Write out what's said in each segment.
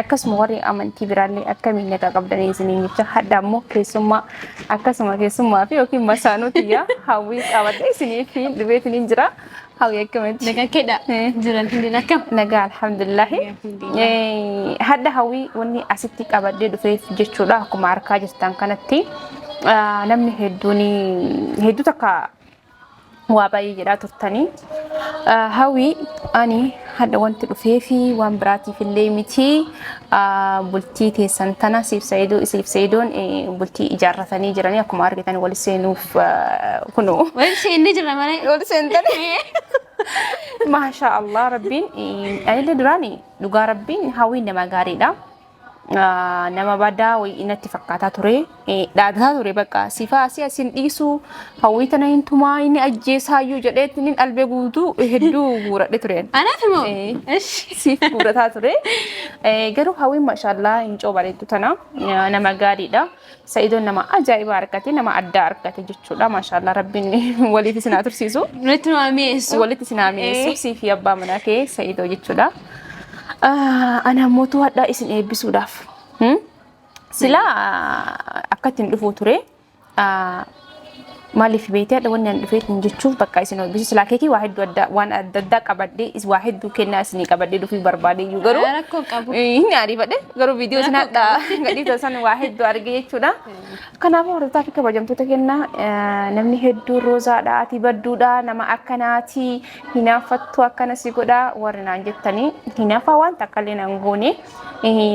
Akkasuma warri amantii biraallee akkamiin na qaqqabdanii isiniin jecha hadha ammoo keessummaa akkasuma keessummaa fi yookiin masaanuu tiyyaa hawwii qabadhee isiniif dhufee isiniin jira. Hawwii akkamitti? Nagaa keedha. Jiran hundeen akkam? Nagaa alhamdulillahi. Eh, Hadha hawwii wanni asitti qabadhee dhufeef jechuudha akkuma argaa jirtan kanatti ah, namni hedduun hedduu takka waa baay'ee jedhaa turtanii hawii ani hadha wanti dhufee fi waan biraatiif illee miti bultii teessan tana siif sa'idoo isiif sa'idoon bultii ijaarratanii jiranii akkuma argitan wal seenuuf kunu Wal seenne jirra malee. wal seentanii maashaa allah rabbiin anillee duraani dhugaa rabbiin hawwiin nama gaariidha nama badaa wayii natti fakkaataa ture dhaadataa ture bakka sifaa asii asin dhiisu hawwii tana hin tumaa inni ajjeesaayyuu jedhee inni albee guutuu hedduu guuradhe ture. Anaati moo? Ishi. Siif guurataa ture. Garuu hawwiin mashaallaa hin coobareetu tana nama gaariidha. Sa'idoon nama ajaa'ibaa argate nama addaa argate jechuudha maashaallah rabbiin waliif isin haa tursiisu Nutti waa mi'eessu. walitti isin haa mi'eessu siifi abbaa manaa kee sa'idoo jechuudha Ah, ana mootuu hadhaa isin eebbisuudhaaf Hmm? silaa akkatti hin dhufuu ture Ah, Maaliif beekte hadha wanni an dhufeet hin jechuuf bakka isin olbisu silaa keekii waa hedduu adda waan adda addaa qabadhee is waa hedduu kennaa isinii qabadhee dhufii barbaade iyyuu garuu Ah, rakkoo qabu. Eh, hin ariifadhe garuu viidiyoo isin hadha gadhii tasan waa hedduu arge jechuudha. Kanaafuu hordoftaa fi kabajamtoota kenna eh, namni hedduu roozaadha ati badduudha nama akkanaati hinaaffattu akkana si godha warri naan jettanii hinaafaa waan takka illee naan goone.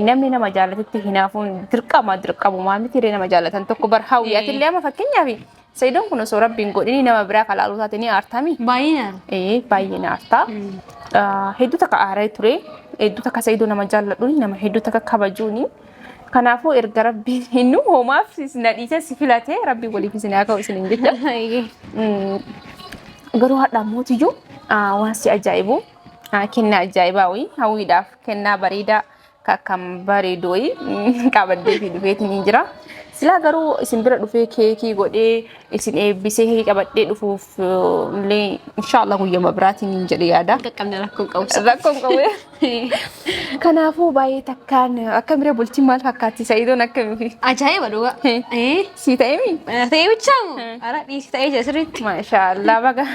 namni nama jaalatetti hinaafuun dirqama dirqamumaa miti illee nama jaalatan tokko bar hawwi ati illee amma fakkeenyaaf sayidoon kun osoo rabbiin godhini nama biraa kalaaluu taate ni aartami Baay'inaan. ee baay'een aartaa hedduu takka aaree ture hedduu takka sayidoo nama jaalladhuun nama hedduu takka kabajuuni kanaafuu erga rabbiin hinnu hoomaaf na dhiisee si filate rabbiin waliif isin haa ka'u isin hin jecha Mm, garuu haadha mootiyyuu ah, waan si ajaa'ibu ah, kennaa ajaa'ibaa wayii hawwiidhaaf kennaa bareedaa ka akkam bareedu wayii mm, qabadhee fi dhufeetiin hin jira. Silaa garuu isin bira dhufee keekii godhee isin eebbisee keekii qabadhee dhufuuf eh, illee inshaallah guyyama biraatiin hin jedhe yaada. Qaqqabne rakkoon qabu. Rakkoon qabu. Kanaafuu baay'ee takkaan akkamire bultiin maal fakkaatti sa'idoon akkamifi? Ajaa'iba dhugaa. Eh. Sii ta'eemi? Ta'ee bichaa moo? Hmm. Ara dhiisi ta'ee jira sirriitti. Maashaallah baga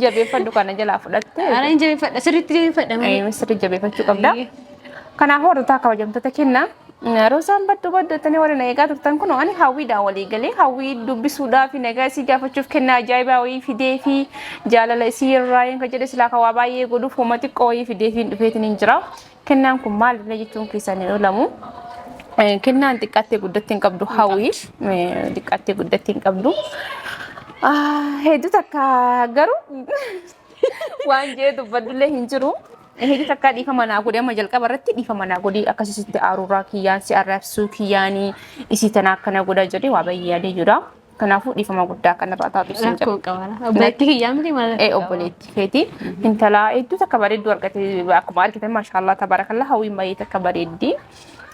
jabeeffadhu kana jalaa fudhatte. Ara hin jabeeffadha sirriitti jabeeffadha malee. Ee sirri jabeeffachuu qabda. Ayyee. Kanaaf hordoftoota kabajamtoota kenna. Roosaan baddu baddu jettanii warri na eegaa turtan kun ani hawwiidhaan walii galee hawwii dubbisuudhaa fi nagaa isii gaafachuuf kenna ajaa'ibaa wayii fidee fi jaalala isii irraa hin jedhe silaa kan waa baay'ee godhuuf hooma xiqqoo wayii fidee fi hin dhufeetiin hin jira. Kennaan kun maalidha jechuun keessan hin oolamu. Eh, Kennaan xiqqaattee guddatti hin qabdu hawwii eh, xiqqaattee guddatti hin qabdu. Ah, Hedduu takka garuu waan jee dubbadullee hin jiru. Hedduu takka dhiifama naa godhi amma jalqaba irratti dhiifama naa godhi akkasii sitti aaruuraa kiyyaan si arrabsuu kiyyaanii isii tana akkana godha jedhee waa baay'ee yaadee jira. Kanaafuu dhiifama guddaa kan irraa taatu isin jedha. Rakkoo qabara. Obboleettii kiyyaa miti maal Ee obboleetti feeti intala hedduu takka bareedduu argate akkuma argitan maashaallah tabarakallah hawwiin baay'ee takka bareeddi.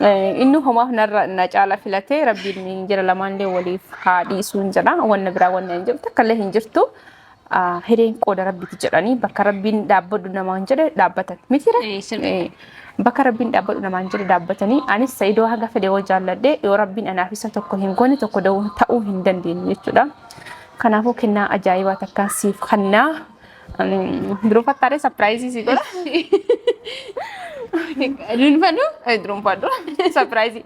Eh, Inni homaaf narra na caala filatee rabbiin jira lamaanillee waliif haa dhiisuun jedha wanna biraa wanna hin jiru takka illee hin jirtu. hireen qooda rabbiiti jedhanii bakka rabbiin dhaabbadhu namaan jedhe dhaabbatan mitire Ee, sirrii. Ee, bakka rabbiin dhaabbadhu namaan jedhe dhaabbatanii anis sa'idoo haga fedhe yoo jaalladhe yoo rabbiin anaaf isa tokko hin goone tokko da'uu ta'uu hin dandeenye jechuudha kanaafuu kennaa ajaa'ibaa takkaan siif kennaa duruu fattaadhee sapiraayizii si godha Duunfadhu? durunfadhu sapiraayizii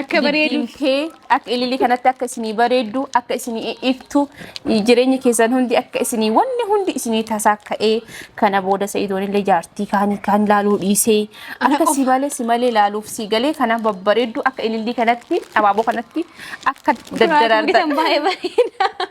Akka bareedu. Giddiin tee akka ililii kanatti akka isinii bareeddu, akka isinii iftu, jireenyi keessan hundi akka isinii wanni hundi isinii tasaa ka'ee kana booda sa'idoon illee jaartii kaanii kaan laaluu dhiisee akka si malee si malee laaluuf si galee kana babbareeddu akka ililii kanatti abaaboo kanatti akka daddaraartan. Bisan baay'ee bareeda.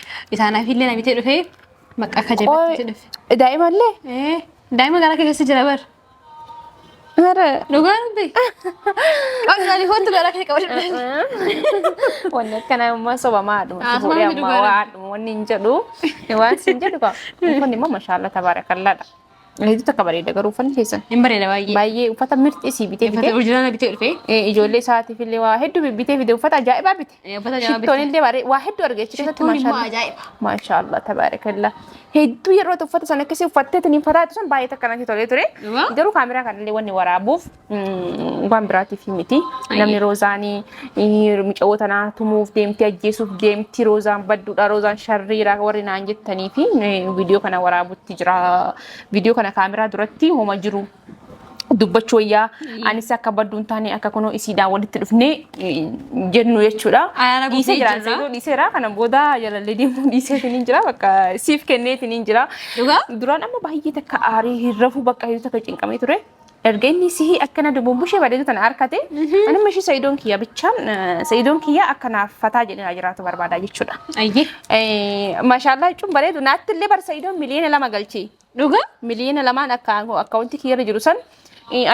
Isaanaafillee namitee dhufee bakka akka jabeetti dhufe. Qoy daa'imallee? Ee, Daa'ima garaa kee keessa jira bar. Mara. Dhugaa dubbi. Qabdi ani kootu garaa kee qabadhu. Wanni akkanaa immoo sobamaa haadhuma. Ah, Fuudhee sobamaa ammaa dhugaa waa dha. haadhuma wanni hin jedhu. Waan siin jedhu qaba. Kun immoo mashaallah tabaarakallaadha. Hedduu takka bareeda garuu uffanni keessan. Hin bareeda baay'ee. Baay'ee uffata mirxii sii bitee Uffata fide. orjinaala bitee dhufee. Eh, Ijoollee isaatiif illee waa hedduu bibbitee fide uffata ajaa'ibaa bite. Eh, uffata ajaa'ibaa bite. Shittoon illee bareeda waa hedduu argee achi keessatti Shittoon immoo maashaallah. ajaa'iba. Maashaallah tabaarakallaa. Hedduu yeroo tokko uffata sana akkasii uffattee tiniin fataa sun baay'ee takka natti tolee ture. Dhugaa? Garuu kaameraa kanallee wanni waraabuuf Mm, waan biraatiif miti. Ayyee. Namni Roozaanii eh, mucawoo tanaa tumuuf deemti ajjeesuuf deemti Roozaan badduudha Roozaan sharriidha warri naan jettanii fi eh, viidiyoo kana waraabutti jira. Viidiyoo kana kaameraa duratti homa jiru. dubbachuu wayyaa anis akka badduu hin taane akka kunoo isiidhaan walitti dhufnee eh, jennu jechuudha. Ayyaana gubbee Dhiisee jira. jirra. Seetoo dhiiseera kana booda jalallee deemuu dhiiseetiin hin jira bakka siif kenneetiin hin jira. Dhugaa? Duraan amma baay'ee takka aarii hin rafu bakka hedduu takka cinqamee ture. Erga inni sihii akkana dubumbushe bareedu tana arkate ani mishi sayidoon kiyya bichaan sayidoon kiyya akkanaaf fataa jedhina jiraatu barbaada jechuudha. Ayyee. Mashallah jechuun bareedu naatti illee bar sayidoon miliyoona lama galchi. Dhuga? Miliyoona lamaan akka akkaawuntii kiyya irra jiru san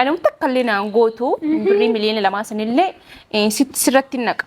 ani takka illee naan gootu birrii miliyoona lamaa sanillee sirratti naqa.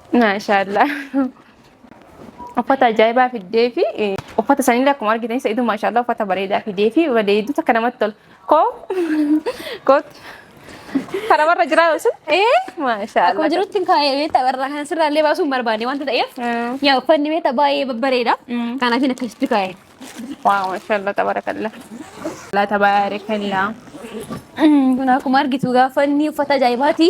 Maashaallah. Uffata ajaa'ibaa fiddee fi uffata sanillee akkuma argitan sa'idu maashaallah uffata bareedaa fidee fi bareedu takka namatti tola. Koo koot karamarra jiraa sun ee Akkuma maashaallah. jirutti hin kaa'ee beektaa warra kan sirraa illee baasuu hin barbaanne wanta ta'eef. Mm. Yaa uffanni beektaa baay'ee babbareeda. Mm. Kanaaf hin akkasitti kaa'e. Waaw maashaallah tabarakallah. Laa tabarakallah. Kun akkuma argitu gaafa inni uffata ajaa'ibaati.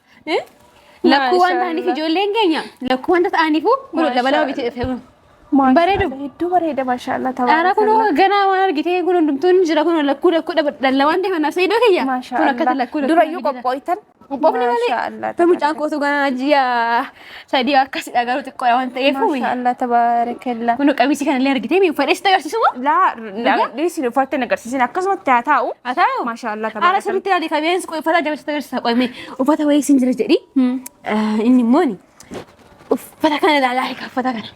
Lakkuu waan ta'aniif ijoolleen keenya lakkuu wanta ta'aniifuu kun dabalaa biti dhufee kun. Bareedu. Hedduu bareeda maashaallah Dhaara kun ganaa waan argitee kun hundumtuun jira kun lakkuu lakkuu dhalla waan ta'eef naaf sayyidoo kiyya. Kun akkatti lakkuu lakkuu. Durayyuu qophooytan. Qophoofne malee. Maashaallah. Mucaan kootu ganaa ji'a Sadii akkasi dhagaruu xiqqoodha waan ta'eef. Maashaa Allah tabaarakallaa. Kun qamisi kana illee argitee mi uffadhee si agarsiisu moo? Laa dhiisin uffatte hin agarsiisin akkasumatti haa taa'u. Haa taa'u. Maashaa Allah Haala tabaarakallaa. sirriitti ilaali kabeensi qoy uffata jabeessa agarsiisa qoy mee uffata wayii siin jira jedhi. Inni immoo ni uffata kana ilaalaa hiika uffata kana.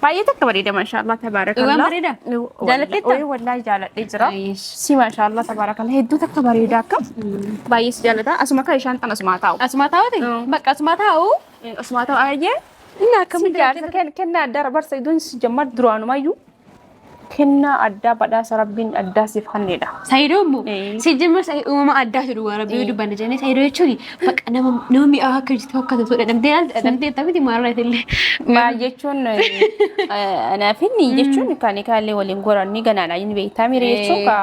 Baay'ee takka bareeda maashaallah tabaarakallah. Dhugaan bareeda? Jaalatteetta? Ooyee wallaahi jaaladhee jira. Ayyish. Si maashaallah tabaarakallah hedduu takka bareeda akka baay'ee si jaalata asuma akka ishaan tan asumaa taa'u. Asumaa taa'uuti? Mm. Bakka asumaa taa'u. Asumaa taa'u ayyee. Inni akkamitti Si jaarsa ken- kennaa dara barsa iddoon si jammar duraanumayyuu Kennaa addaa badhaasa rabbiin addaa siif kanneedha. Saayidoo immoo Ee. si jimma saayidoo uumama addaatu dhugaa rabbii yoo dubbanne jennee saayidoo jechuun bakka nama nama mi'aa akka hojjetu akka tatu dhadhamtee ilaalta dhadhamtee jettee miti maarraa illee. Maal jechuun anaafin jechuun kan kaallee waliin goranni ganaadha inni beektaa miira jechuu kaa.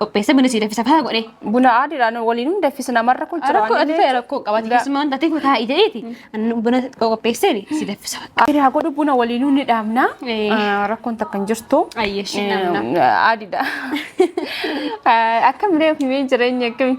qopheessee buna sii dafisa faa godhee. Buna aadiidhaan waliin hin daffisu namarra kun jira Rakkoo waan ati ta'e illee. rakkoo qabati keessumaan taatee kun taa'ii jedheeti annu buna qopheesseen si daffisa. Aadii haa godhu buna waliinuu ni dhaabna. Eh. Ah, Rakkoon takka hin jirtu. Ayyeeshi namna. Aadiidha. Akkamilee himee jireenya akkami?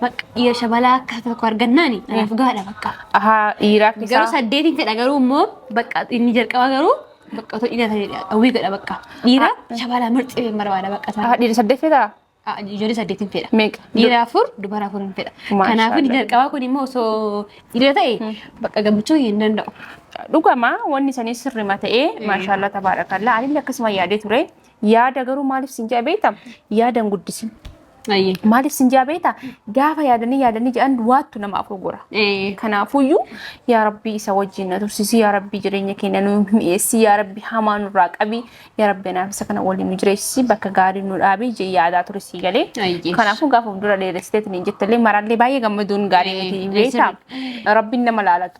Bakka dhiira shabalaa akka tokko argannaani anaaf gaadha bakka. Ahaa dhiiraaf Garuu isaa. saddeetiin fedha garuu immoo bakka inni jalqaba garuu bakka otoo dhiira ta'e hawwii godha bakka. Dhiira shabalaa marxee barbaada bakka isaa. Ahaa dhiira saddeet fedhaa? Ah, Ijoollee saddeetiin fedha. Meeqa? Dhiira afur dubara afur hin fedha. Maashaallah. Kanaaf inni jalqabaa kun immoo osoo dhiira ta'e bakka gammachuu hin danda'u. Dhugama wanni isaanii sirrima ta'ee maashaallah tabaarakallaa anillee akkasuma yaadee ture Yaada garuu maaliif sin ja'a beekta? Yaada hin guddisin. Ayyee. Maaliif sin ja'a beekta? Gaafa yaadanii yaadanii jedhan waattu nama afur gora. Ee. Kanaafuyyuu yaa rabbii isa wajjin na tursiisi yaa rabbii jireenya keenya nu mi'eessi yaa rabbii hamaa nurraa qabi yaa rabbii anaaf isa kana waliin nu jireessi bakka gaarii nu dhaabi jee yaadaa ture sii galee. Ayyee. Kanaafuu gaafa fuuldura dheeressiteetiin hin jettallee maraallee baay'ee gammaduun gaarii miti beektaa rabbiin nama laalatu.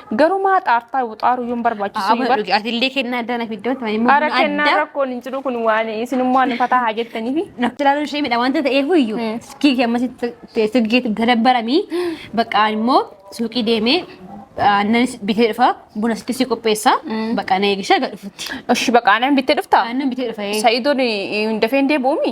Garumaa xaartaa wuxaaru yuun barbaachisu Amma yubar. dhugi atillee kennaa addaa na fiddoon tuma immoo Ara buna kennaa addaa rakkoon hin jiru kun waan isinummaa nu fataa haa jettaniifi. nafti ilaaluun ishee midha wanta ta'eef iyyuu Mm. silkii kee ammas silkii gadabbaramii bakka immoo suuqii deemee aannan bitee dhufa buna sitti si qopheessa Mm. bakka na eegisha gad dhufutti Oshi baqa aanan bittee dhuftaa? aannan bitee dhufa ee. Sa'idoon hin dafeen deebi'uumi?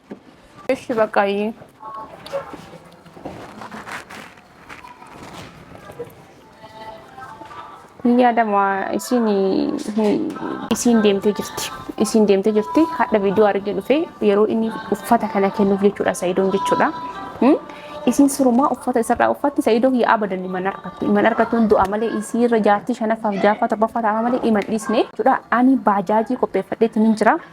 እሺ በቃ ይ yaadama isin isin deemtee jirti isin deemtee jirti hadha viidiyoo argee dhufe yeroo inni uffata kana kennuuf jechuudha sa'idoon jechuudha Hmm? isin sirumaa uffata isarraa uffatti sa'idoon yaa abadan iman argattu iman argattuun du'a malee isii irra jaartii shanaffaaf jaaffaa torbaffaa taa'aa malee iman dhiisne jechuudha ani baajaajii qopheeffadheetti nin jira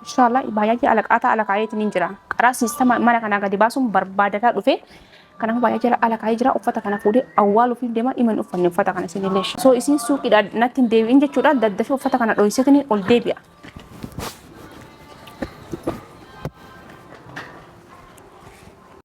Inshallah baay'ee alaqaataa alakaa'eetiin hin jira. Qaraa siistama mana kanaa gadi baasuun barbaadataa dhufe. Kanaafuu baay'ee jala alakaa'ee jira. Uffata kana fuudhee awwaaluuf hin deema. Iman uffanne uffata kana isin illee. Soo isin suuqiidha natti hin deebi'in jechuudha. Daddafee uffata kana dho'iseetiin ol deebi'a.